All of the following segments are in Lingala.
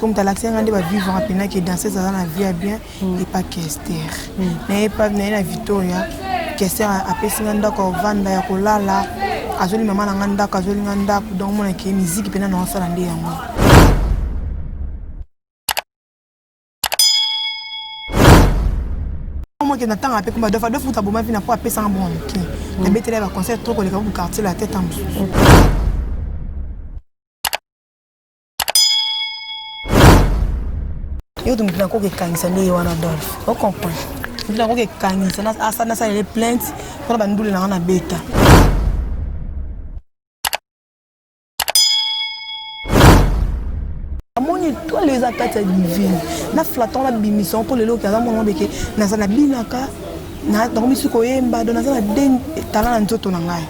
comme talakisi nga nde bavivre apenaki danseuse aza na vie ya bien mm. epa kester mm. naye pa naye na victoria kester apesi nga ndako ya kovanda ya kolala azoli mama na nga ndako azoli nga ndako donc monake miziki mpena na osala nde yango mokende na ntango ape kuma dofa dofa kuta boma vina mpo apesanga bongo moke nabetela ya baconseil to koleka ku quartier la tete mosusu yo to moto nakoki ekangisa nde ye wana dolf ocomprendre moto nakoki ekangisa nasalele plainte mpona bandule nanga na beta amoni etwale eza kati ya divine na flaton nabimisa yango mpo lelo oke aza mwana beke naza nabinaka nakomisi koyemba do naza na de tala na nzoto na ngai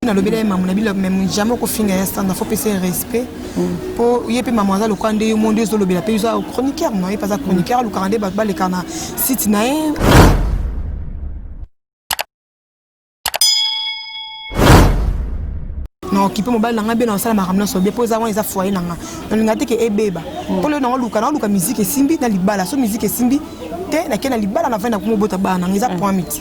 nalobela ye mamu na bilo meme jamais okofinga ya standa fo pesa ye respect mpo mm. ye mpe mamu aza lokola nde yo mo nde ozolobela mpe oza chroniqueur no ye mpe aza chroniqueur alukaka nde bato baleka na site na ye na okipe mobali na ngai bena osala makambo nyonso be mpo eza wana eza foye na ngai nalinga te ke ebeba mpo mm. leo nango luka nango luka miziki esimbi na libala so miziki esimbi te nakei na libala na vai na komobota bana na ngai eza mm. point miti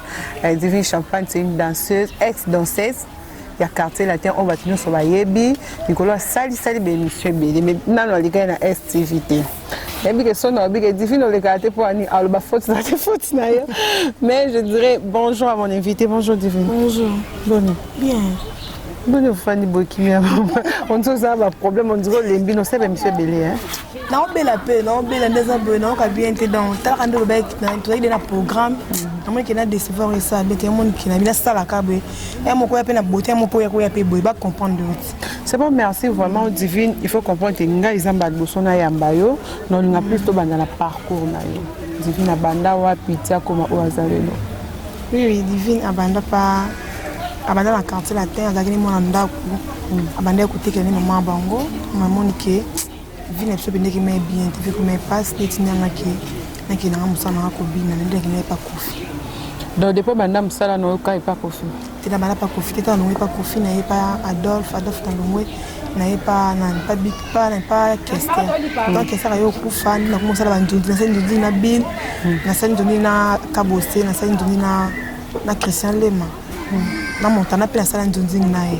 Eh, Divine Champagne, c'est une danseuse, ex-danseuse ya quartier latin oyo bato nyonso bayebi likolo asalisali baémission ebele me nano alikaki na stv te nayebi ke sono alobi ke divine olekaka te mpo ani aloba foti na te foti na yo mais je dirais bonjour à mon invité bonjour divine bonjour boni bien boni ofandi boye kimia onzi ozala baproblème onzi olembi nosala baémission ebele naobela mpe naobela nde eza boye nayoka bien te donc talaka nde olobaki tozalaki de na programme namoni ke na décevoir esala bien te yamoni ke nabi nasalaka boye ya moko ya mpe na bote ya moko ya koya mpe boye bacomprendre oti c'est bon merci vraiment divine il faut comprendre te ngai eza mbala liboso nayamba yo na olinga plus tobanda na parcours na yo divine abanda wapi ti akoma oyo aza lelo oui divine abanda pa abanda na quartier latin azalaki ne mwana ndako abandaki kotekela ne mama bango namoni ke vie na biso ebendeki mai bien te viko mai pasi neti nde angaki nake nanga mosala nanga kobina nandaki ngai epa kofi donc depuis banda mosala na oyoka epa kofi te na banda pa kofi te tana longo epa kofi na ye pa adolphe adolphe na longo na ye pa nani pa bik pa na pa kester donc kester aye okufa nde nakomi kosala bandundi nasali ndundi na bin nasali ndundi na kabose nasali ndundi na na christian lema na montana mpe nasala nzunzingi na ye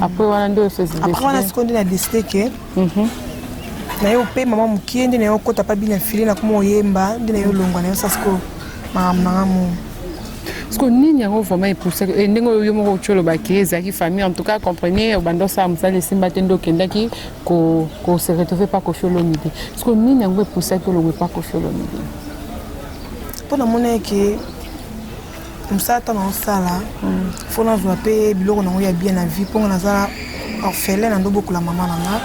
apres wana nde apres wana sikoyo nde na deside ke mhm. naye opema mwa mokie nde naye okota mpa bina file nakoma oyemba nde naye olongwa nayo sa sikoyo makambo nanga mo siko nini yango vraiment epousa eh, ndenge oyo yo moko ocolobaki ezalaki famille en tout cas comprenez obanda osala mosala esimba te nde okendaki kose retrouve pa kofi olomide siko nini yango epousaki olongwe pa kofi olomide mpo namonaki mosala ntango naosala fo nazwa mpe biloko nango ya bien na vie mponga naza orphelin na ndobokola mama na nga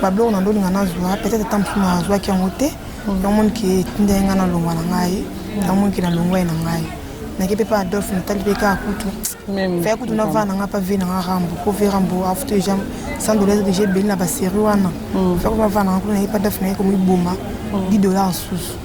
babiloko na ndolinga nazwa peut-être ata mosusu nazwaki yango te yango moni ke etindaki ngai nalongwa na ngai yango moni ke nalongwa ye na ngai nake mpe mpe adolphe natali mpe kaka kutu faya kutu navaa na ngai mpe ve na ngai rambo mpo ve rambo afuti deja cent dollars deja ebeli na baserie wana faya kutu navaa na ngai kuna naye mpe adolphe naye komiboma 10 dollars susu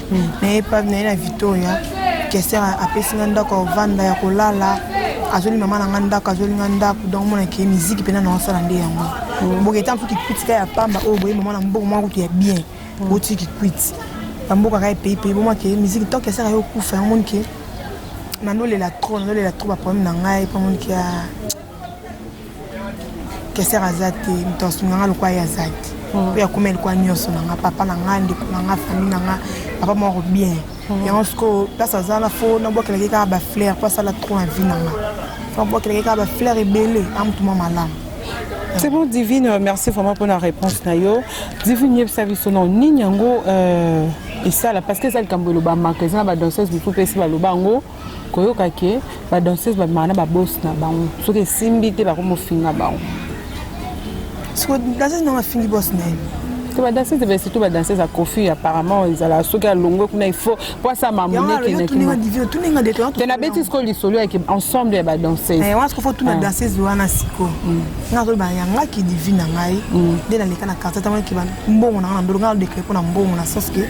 naye epavi naye na victoria kester apesi nga ndako ya ovanda ya kolala azoli mama na nga ndako azoli nga ndako donc mona ke miziki mpena na osala nde yango mm. boke etanso kikwiti ka ya pamba oyo boye mama na mboko mwa kutu ya bien mm. oti kikwiti bamboka ka epeyi peyi bomwa ke miziki to kester ayo okufa yango moni ke nanolela trop nanolela trop baproblème na ngai mpo moni ke keser aza te moto asunga nga lokola ye aza te hmm. oyo akoma elikola nyonso na nga papa na nga ndeko na nga famille na nga papa moko bien hmm. yango sikoyo place aza na fo nabwakelaki kaka bafleur mpo asala trop na vie na nga fo nabwakelaki kaka bafleur ebele a motu mwa malamu c'est bon divine euh, merci vraiment mpo na réponse na yo divine yebisa biso na nini yango euh, esala parce que eza likambo elobamaka eza na badanseuse mosusu mpe esi baloba yango koyoka ke ba danseuse babimaka na babosi na bango soki esimbi te bakomofinga bango siko danseuse nango afingi bosi na ye te badanseuse ebe surtout badanseuse ya kofi apparemment ezala soki alongwe kuna ifo po asama monekete nabeti sikoyo lisolo yake ensemble ya badanseuse eh, wana sikoyo fo tuna danseuse wana siko mm. nga azoloba yangaki divi na ngai mm. nde naleka na quartier tamonaki mbongo na ngai na ndolo ngai alodekle mpo na mbongo na sens ke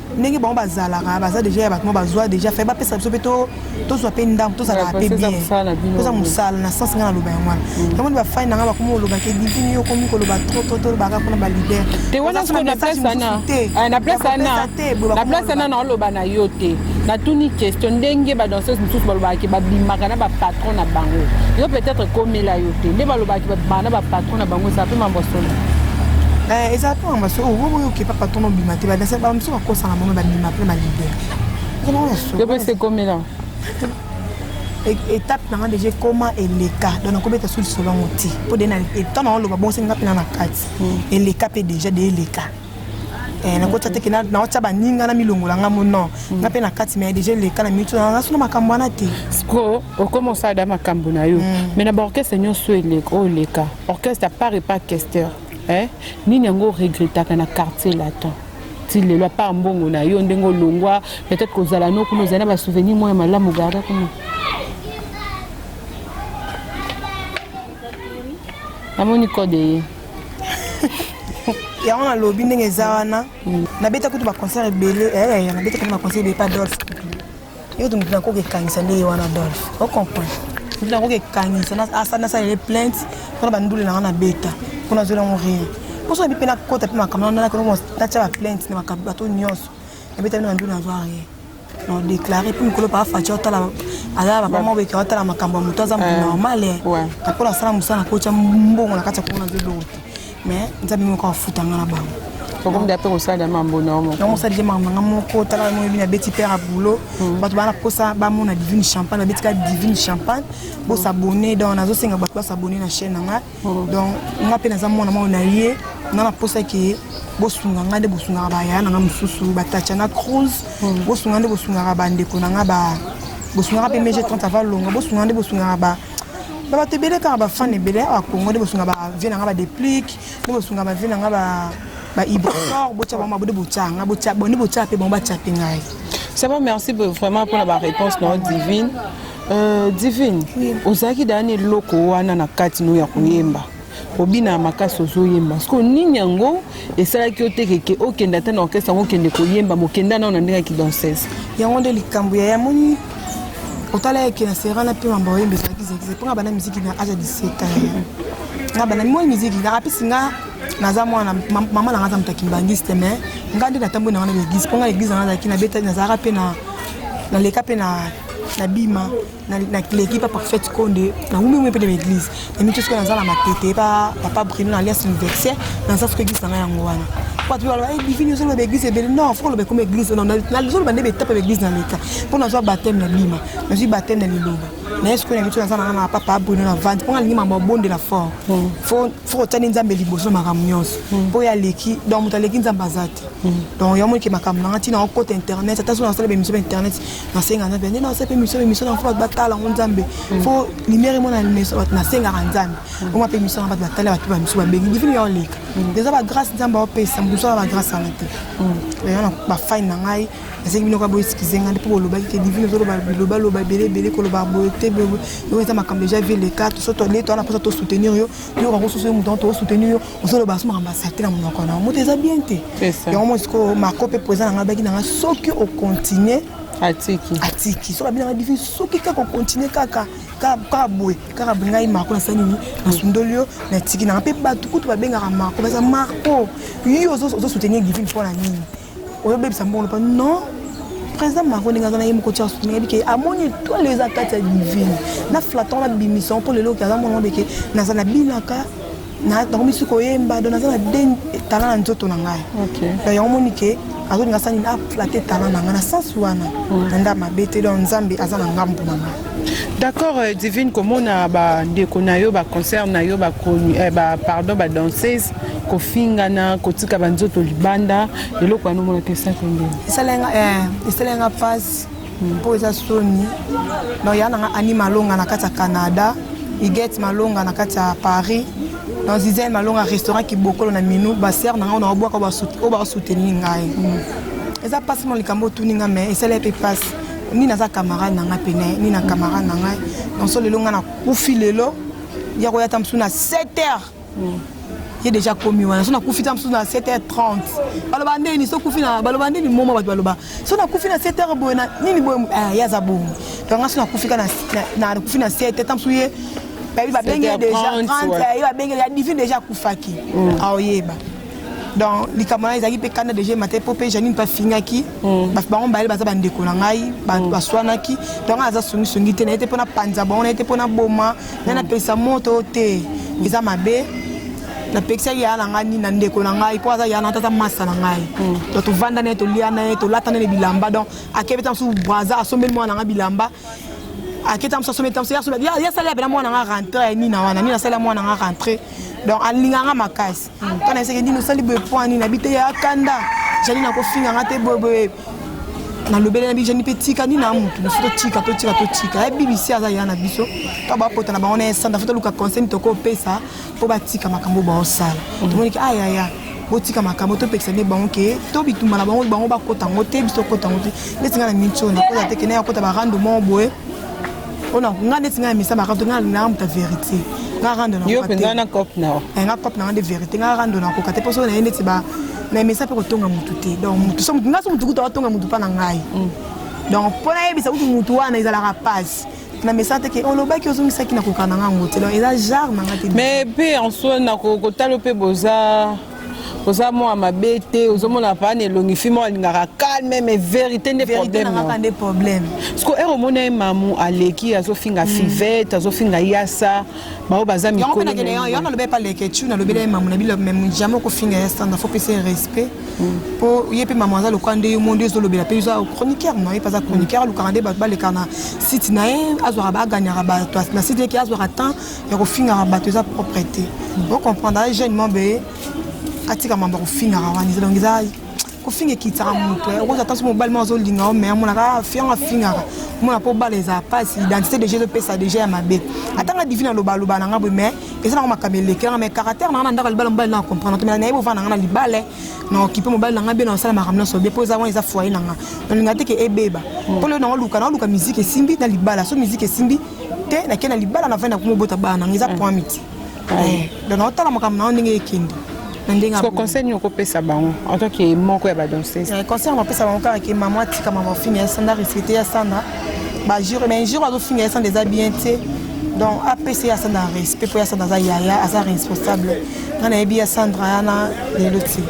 ndenge bango bazalaka baza deja ya bato mo bazwa deja fai bapesa biso mpe tozwa mpe ndambo tozalaka mpe bien toza mosala na sense ngai naloba yango wana mm. yango nde bafai na ngai bakomi koloba ke divini yo okomi koloba trop trop tolobaka kuna balider te wana siko na place wana ah, na place wana na place wana naoloba na yo te natuni question ndenge badanseuse mosusu balobaka ke babimaka na bapatron na bango yo peut-être ekomela yo te nde balobaka ke babimaka na bapatron na bango ezala mpe mambo solo eh, eza mpe mambo solo patron obima te badanse bala mosusu bakosana bango babima mpe balibere epesa ekomela étape nanga déjà ekoma eleka donc nakobeta so lisolo yango te mpo de ntango nango loba bongo senga mpena na kati hmm. eleka mpe déjà de eleka eh, nakotya teke naotya baninga na milongola nga mo non hmm. nga mpe na kati mai déjà eleka na minute na solo makambo wana te siko okoma osala da makambo na yo mai hmm. na baorchestre nyonso eleka oyo eleka orchestre apart epa orchestre Eh, nini yango regrettaka na quartier latin ti lelo apart mbongo na yo ndenge olongwa peut-être kozala no kuna ozali na basouvenir moko ya malamu garda kuna namoni code eye yango nalobi ndenge eza wana mm. nabeta kutu baconcert ebele eh, eh, nabeta kutu baconcert ebele pa dolph yo moto nakoki ekangisa nde ye wana adolphe ocomprendre moto nakoki ekangisa nasalele plainte mpona bandule nanga na beta mpo nazwela yango rien mposo nabi mpe nakota mpe makambo wana natya baplainte na bato nyonso nabeta bino bandule nazwa rien na déclaré mpe mikolo paa faci otala aza papa moko beke otala makambo ya moto aza moto eh, normal eh. mpo nasala mosala nakotya mbongo na kati ya komona nzobongo te mais nzambe moko afuta nga na bango okomi da mpe kosala mambo na yango osalaki makambo nanga moko tala moyebi na beti pere ya boulot hmm. bato bana mposa bamona divine champagne babeti ka divine champagne bosabone donc nazosenga bato basabone na chaîne na ngai hmm. donc nga mpe naza mwana moko na ye nga na mposa ke bosunga ngai nde bosungaka bayaya na ngai mosusu batacha na cruise hmm. bosunga nde bosungaka bandeko na ngai ba bosungaka mpe mege 30 avalonga bosunga nde bosungaka ba ba bato ebele kaka bafane ebele awa congo nde bosunga bavie na nga badeplic nde bosunga bavie na nga bahibrocor botya bango babode botya nga botya bonde botya mpe bango batya mpe ngai c'est bon merci vraiment mpona baréponse na yo divine euh, divine ozalaki dani eloko wana na kati no ya koyemba obina ya makasi ozoyemba siko nini yango esalaki yo te keke okende ata na orkestre yango okende koyemba mokenda nao na ndenge ya kidansese yango nde likambo ya yamoni otala yeke na serana mpe mambo oyemba ezalaki zekize mpo nga bana miziki na aja 17 nga bana moi miziki nga apesi nga naza mwana mama na nga aza moto ya kimbangiste mais nga nde natamboi na nga na baeglise mpo nga eglise na nga azalaki nabetaki nazalaka mpe na leka mpe na bima naleki pa parfaite konde naumi umi mpe na baeglise namiki soki naza na matete pa papa brino na alias universaire naza soki eglise nanga yango wana bato mpe baloba divini ozoloba baeglise ebele non fo koloba ekoma eglise nazoloba nde betape baeglise na leta mpo nazwa bateme na bima nazwi bateme na liloba naye sikoyo na biso naza nanga na papa bruno na vandi mpo nalingi mama obondela fort soki otyani nzambe liboso na makambo nyonso hmm. mpo ye aleki donc moto aleki nzambe aza te hmm. donc yo amonike makambo nanga ntina okota internet ata soki nasala bemission ba internet nasenga nzambe nde nasala mpe mission bemission na fo bato batala yango nzambe hmm. fo limere emona limeso bato nasengaka nzambe oma mpe mission na bato batala bato bamisu babengi divini ya oleka eza bagrâce nzambe aopesa moto mosala bagrâce wana te bafani na ngai nasengi bino kaka boeskize ngai mpo bolobaki ke divine ozoloba biloba loba ebele ebele koloba boye te boye yango eza makambo deja vie leka toso toale toana mposa tosoutenir yo toyoka kosusu yo moto yango tokosoutenir yo ozoloba so makambo asakite na monoko na yo moto eza bien te yango mo sikoyo mako mpe poeza na ngai baki na ngai soki okontinue atiki atiki soki abinanga divi soki kaka okontinue kaka kaka boye kaka boye ngai marco nasala nini nasundoli yo natiki nanga mpe bato kutu babengaka marco baza marco yo ozosoutenir divine mpo na nini oyobebisa mbongo pa non président macron ndenge aza na ye moko tia soutien yebi ke amoni etoile eza kati ya divine na flaton na bimisa mpo lelo oke aza mwana beke naza na binaka nakomisi koyemba do naza na de talent na nzoto na ngai donc yango moni ke azolinga sani na aflate talent na ngai na sens wana na nda mabe te donc nzambe aza na ngambo na ngai d'accord euh, divine komona bandeko na yo baconcert na yo euh, pardon badanseuse kofingana kotika banzoto libanda eloko wana omonaka esaki ndeni esalenga mpasi mpo eza soni donc ya nanga ani malonga na kati ya canada igete malonga na kati ya paris donc zizel malonga restaurant kibokolo na minu basere na ngai na obwaka oyo bakosoutenir ngai mm. eza mpasi mo likambo otuni ngai mai esala mpe mpasi nini aza camarade na ngai pene nini na camarade na ngai donc so lelo ngai nakufi lelo ya koya ta mosusu na 7 heures ye deja akomi wana so nakufi ta mosusu na 7h30 baloba ndeni so kufi na baloba ndeni moma bato baloba so nakufi na 7h boye na nini boye eh, ye aza bongo donc nga so nakufi ka nakufi na 7 ta mosusu ye bayebi babengi ye deja 30 ye babengi ya divine deja akufaki mm. aoyeba donc likambo na ezalaki mpe kanda deja emata mpo mpe janine mpe afingaki mm. bango mibale baza bandeko na ngai mm. baswanaki donc aza songisongi te na ye te mpo na panza bango na ye te mpo na boma na napekisa moto te eza mabe napekisaki yaya na ngai nini na ndeko na ngai mpo aza yaya na ngai tata masa na ngai hmm. to tovanda na ye tolia na ye tolata na ye bilamba donc akebeta mosusu braza asombeli mwana na ngai bilamba aketa mosusu asombeli mosusu asombi yasali apena mwana na ngai rentre ya nina wana nini asali ya mwana na ngai rentre donc alingaka ngai makasi kana eseke nini osali boye mpo ani na bite ya kanda jani nakofinga nga te boyeboye nalobeli na bijani mpe tika nini na motu mosusu totika totika totika ya bbc aza ya na biso to bapota na bango na esanda fo toluka conseil mito kopesa mpo batika makambo baosala mm. tomoniki ayaya ah, botika makambo topekisa nde bango ke to bitumba na bango bango bakota yango te biso okota yango te neti ngai na minci oyo nakota te kende yakota barando moko boye mpona nga neti nga ya misa makambo nga nanga moto ya verité nga rando na yo mpenza na cop na yo eh, nga cop na nga nde verité nga rando na koka te mpo soki na ye neti ba na misa mpe kotonga motu te donc motu so motu nga so motu kutu atonga motu mpa na ngai mm. donc mpo nayebisa kutu motu wana ezalaka mpasi na mesa te ke olobaki ozongisaki na kokana nga yango te donc eza genre na nga te mais mpe en soi na kotala mpe boza oza mwa mabe te ozomona paa na elongi fi moko alingaka calme mais verité nde problème problème siko ere omona ye mamu aleki azofinga hmm. fivete azofinga yasa baoyo baza mikolonalobela ye mamu na bilo meme jamais okofinga yasa na fo pesa ye respect mpo hmm. ye mpe mamu aza lokola nde yo mondi ezolobela mpe oza chroniqueur na ye mpe aza chroniqueur alukaka nde bato baleka na site na ye azwaka baagagnaka bato na site yeke azwaka temps ya kofingaka bato eza propre te ocomprendre aye jeune mambo eye atika mambo ya kofingaka wana eza donc eza kofinga ekitisaka moto eh. okozwa ntanso mobali moko azolinga yo mai amonaka ah, fiyango afingaka omona mpo bala eza mpasi identité deja ezopesa deja ya mabe ata nga divine alobaloba na nga boye mai eza nango makambo elekelanga mai caractère na nga na ndako ya libala mobali na comprendre tomela nayebi ovanda nga na libala eh. na okipe mobali na nga bie na osala makambo nyonso bie mpo eza wana eza foye na nga nalinga te ke ebeba mpo leo nango luka naoluka miziki esimbi na libala so miziki esimbi te nakei na libala na vai na kuma obota bana nanga eza mm. point miti mm. eh, donc naotala makambo na yo ndenge ekende na ndenge ya conseil nini okopesa bango en tant que moko ya badanseuse eh, conseil nakopesa bango kaka ke mama atika mama ofinga ya sanda respecte ya sanda bajure mais jour azofinga ya sanda eza bien te donc apesa ye asanda respect mpo ya sanda aza yaya aza responsable nga nayebi ya sandra yana lelo te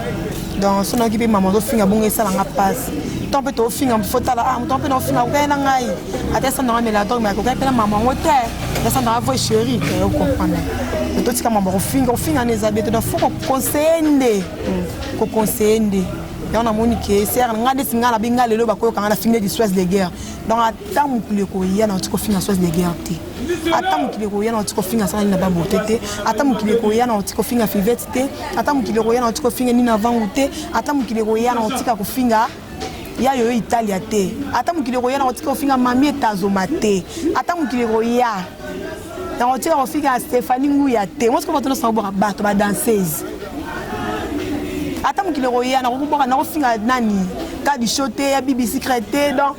donc so nayoki mpe mama ozofinga bongo esala nga mpasi to mpe tofinga fotala ah moto mpe naofinga okei na ngai ata esanda nga mela dog me akoki apela mama yango te esanda nga voi chéri te okomprendre totika mama kofinga kofinga na eza bete donc fo kokonseye nde kokonseye nde yango namoni ke ser nga ndeti nga nabi nga lelo bakoyoka nga nafingi neti soise de guerre donc ata mokili ekoya nauti kofinga soise de guerre te ata mokili ekoya nauti kofinga sala nina babote te ata mokili ekoya nauti kofinga fivete te ata mokili ekoya nauti kofinga nina vangu te ata mokili ekoya nautika kofinga ya yo italia te ata mokili ekoya na kotika kofinga mami etazoma te ata mokili ekoya na kotika kofinga stéphanie nguya te mosi ko bato nyonso nakobwaka bato badanseuse ata mokili ekoya nakokoboka nakofinga nani kadi show te ya bibi secret te donc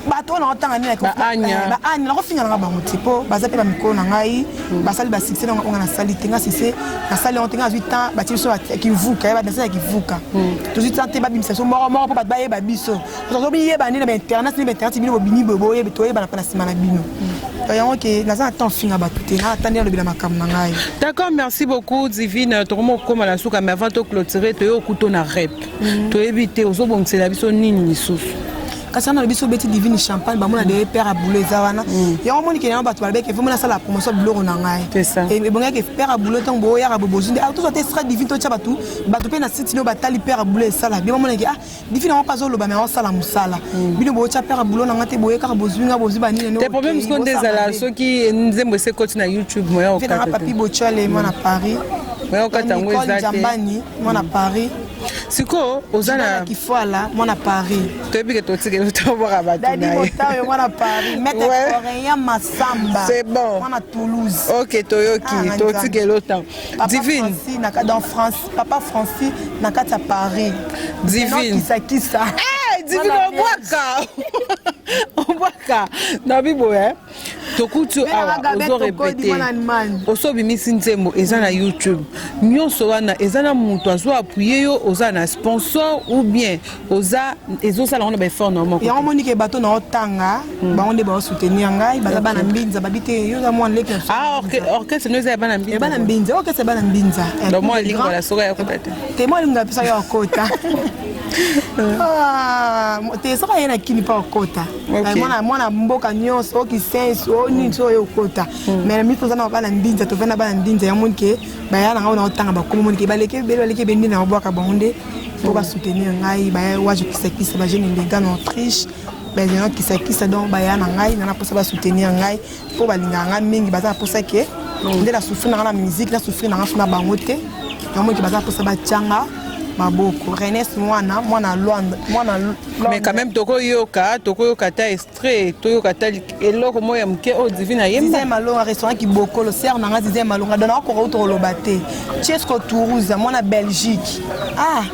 bato wana otanga nini baani nakofinga nanga bango te mpo baza mpe bamikolo na ngai hmm. basali basukse na ngai nasali te ngai sukse nasali yango te ngai nazwi temps batie biso kivuka ya badanse ya kivuka hmm. tozwi temps te babimisa biso moko moko mpo bato bayeba biso tozobiyeba nde na bainternet nde bainternet bino bobimi boye boyebi toyebana mpe na nsima na bino hmm. yango ke naza na temps finga bato te naa tandi alobela makambo na ngai d'accord merci beaucoup divine tokomi kokoma na suka mais avant toclotire toye okuto na rep mm. toyebi te ozobongisela biso nini lisusu kasi wana biso obeti divine champagne bamona de père aboule eza wana mm. yango omoni kende yango bato balobeke vraimen nasala promotion biloko na ngai ebongaki père aboule ntango boyaka bobozu nde ah, tozwa te estra divine totya bato bato mpe na site nio batali père aboule esala bino bamonaki ah divine yango mpe azoloba me akosala mosala mm. bino botya père aboule na ngai te boye kaka bozwi ngai bozwi banini te problème siko nde ezala soki nzembo esekoti na youtube moya okata papi botyale mwana paris moya okata yango eza te mwana paris sikoyo oza na kifwala mwana paris toyebi ke totikeli otobwaka bato dadi motayo mwana paris mete coréen masamba c'est bon mwana toulouse ok toyoki ah, totikeli otango divine na kati en france papa francis na kati ya paris divine kisakisa eh, divine obwaka obwaka na biboye tokuti awa ozo repete oso obimisi nzembo eza na youtube nyonso wana eza na moto azo appuye yo oza na sponsor ou bien oza ezosala yango na baeffort na moko yango monike bato na otanga hmm. bango nde baosoutenir ngai baza bana mbinza babi te yo oza mwana leki ah, orchestre no eza ya bana mbinza bana mbinza orchestre bana mbinza donc mwa lingola soka ya kota te te mwa lingola pesa yo akota ah, te soka ye na kini mpa okota Okay. mwana mwana mboka nyonso okisensi o nini so oyo okota hmm. mais mimi toza na bana mbinza toza na bana mbinza ya moni ke baya na ngai na otanga bakomi moni ke baleki ebele baleki ebele nde na babwaka bango nde mpo basoutenir ngai baya waje kisakisa bajeune mbinga na autriche bazana kisakisa donc baya na ngai nana mposa basoutenir ngai mpo balingaka ngai mingi baza na mposa ke nde na souffrir nanga na musique na souffrir nanga na bango te yango eke baza mposa batyanga maboko renes mwana mwana lwanda mwana mais quand même tokoyoka tokoyoka ata extrait toyoka ata eloko moko ya moke oyo divine ayemba malonga restaurant kibokolo ser nanga zize malonga dona akoka uta koloba te chesco tourusa mwana belgique ah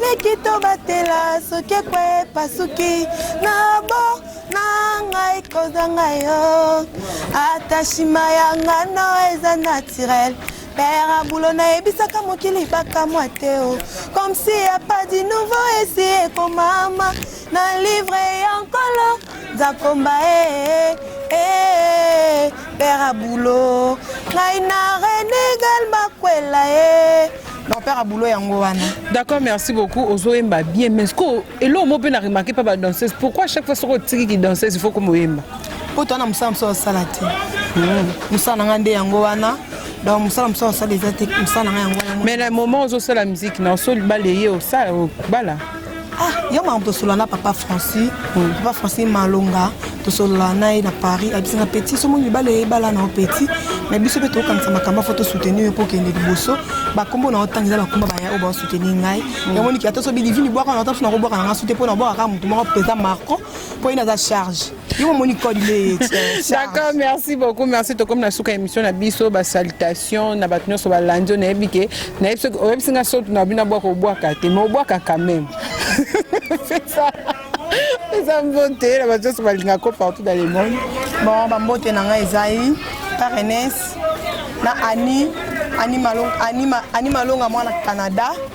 leki tobatela soki ekwe pasuki na bo na ngai kozanga yo ata shima ya ngano eza naturel père abulo nayebisaka mokili bakamwa te o comme si ya pas du nouveau esi ekomama Na livre ya nkolo nzakomba ee ee père abulo ngai na rene gal makwela ee donc père abulo yango wana d'accord merci beaucoup ozoyemba bien mais siko eloko mo mpe na remarke mpa badanseuse pourquoi chaque fois soko otiki kidanseuse il faut komoyemba mpo towana mosala mosusu asala te mosala na ngai nde yango wana donc mosala mosusu asala eza te mosala na ngai yango wana mais na moment ozosala miziki na osoli bala eye osala obala Ah, yo mama tosolola na papa francis mm. papa francis malonga tosolola na ye na paris abisi na petit somo libala eyebala na yo petit mais biso mpe tokokanisa makambo afo tosoutenir yo mpo okende liboso bakombo na yo ntango eza bakomba baya oyo baosoutenir ngai mm. yango niki ata sobi livini bwaka na yo ntango so nakobwaka na ngai sute mpo nabwaka kaka motu moko mpenza marco mpo ye naza charge D'accord, merci beaucoup. Merci to comme na suka émission na biso ba salutations na bato nyonso balandi na yebi ke na yebi soki oyebisi nga soki na bino abwaka obwaka te mais obwaka quand même. C'est ça. eza mbote na bato nyonso balinga ko partout dans le monde bon bambote na ngai ezali parenes na ani ani malonga mwana canada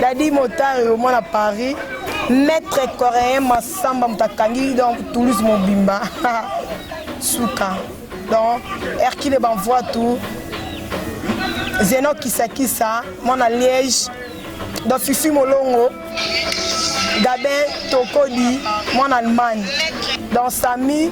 Dadi Motari au moins à Paris, maître coréen Massamba Mutakangi donc Toulouse Mobimba. Souka. Donc Hercule Banvoa tout. Zeno Kisakisa, mon à Liège, dans Fifi Molongo, Gabin Tokodi, mon Allemagne, dans Samy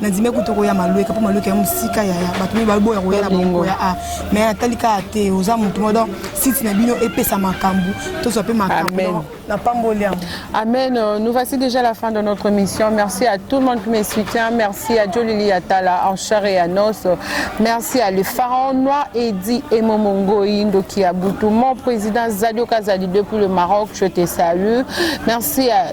nandimi kutu okoya malueka mpo malueka ya mosika yaya bato mii baboya koya na bongo ya a mai atali kaka te oza motu mo donc site na bino epesa makambo tozwa mpe makambo na pamboli yango amen euh, nous voici déjà la fin de notre mission merci à tout le monde qui me soutient merci à jolili atala en char et à nos merci à le pharaon noir edi emomongoi ndoki ya butu mon président zadio kazali depuis le maroc je te salue merci à